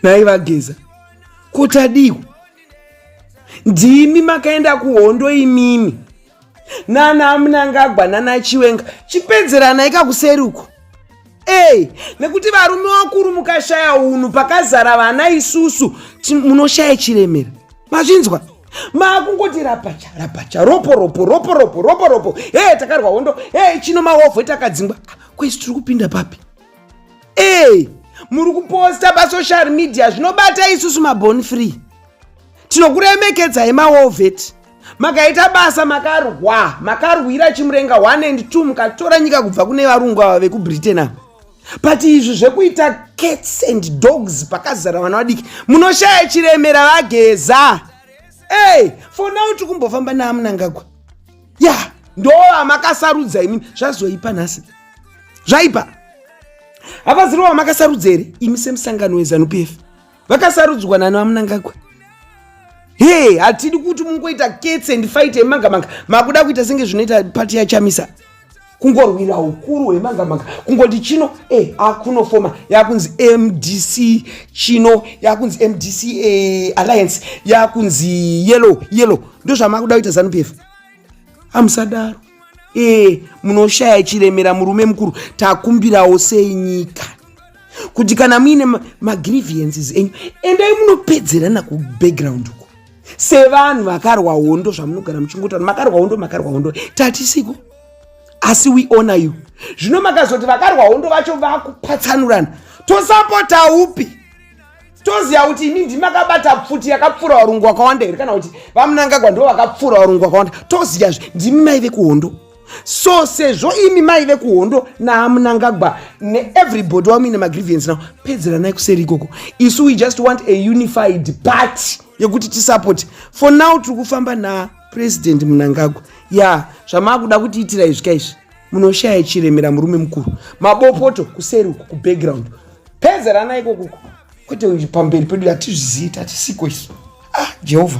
nhai vageza kutadiwa ndimi makaenda kuhondo imimi nana amunangagwa nana chiwenga chipedzerana ika kuseri uko ey nekuti varume vakuru mukashaya unhu pakazara vana isusu munoshaya chiremera mazvinzwa maakungoti rapacha rapacha ropo ropo ropo ropo ropo ropo hee takarwa hondo hee chino mahovho takadzingwa kwesi tiri kupinda papi ee muri kuposta pasocial media zvinobata isusu mabon free tinokuremekedzai mawovet makaita basa makarwa makarwira chimurenga 1 and 2 mukatora nyika kubva kune varungu ava vekubritain ava but izvi zvekuita cats and dogs pakazara vana vadiki munoshaya chiremera vageza ey for now tikumbofamba naamunangagwa ya yeah, ndovamakasarudza imini zvazoipa nhasi zvaipa havaziri vamakasarudza here imi semusangano wezanup f vakasarudzwa nani vamunangagwa he hatidi kuti mungoita ketse ndifaite magamanga makuda kuita senge zvinoita pati yachamisa kungorwira ukuru hwemangamanga kungoti chino e eh, akunofoma yakunzi mdc chino yakunzi mdc e eh, alliance yakunzi yellow yellow ndozvamakuda kuita zanu pf amusadaro e eh, munoshaya chiremera murume mukuru takumbirawo sei nyika kuti kana muine magriviences enyu endai munopedzerana kubackground uko sevanhu vakarwa hondo zvamunogara muchingotana makarwa hondo makarwa hondo tatisiko asi we honor you zvino makazoti vakarwa hondo vacho vakupatsanurana tosapota upi toziva kuti ini ndimakabata pfuti yakapfuura varungu vakawanda here kana kuti vamunangagwa ndo vakapfuura varungu vakawanda toziyazve ndimi maive kuhondo so sezvo imi maive kuhondo naamunangagwa neeverybody wamuine magrivience now pedzeranai kuseri ikoko isu we just want a unified party yekuti tisapoti for now tiri kufamba naa president munangagwa ya zvamaakuda kutiitira izvi ka izvi munoshaya chiremera murume mukuru mabopoto kuseri uku kubackground peza rana iko kuko kwete pamberi pedu hatizvizivi tatisiko isu ah jehovha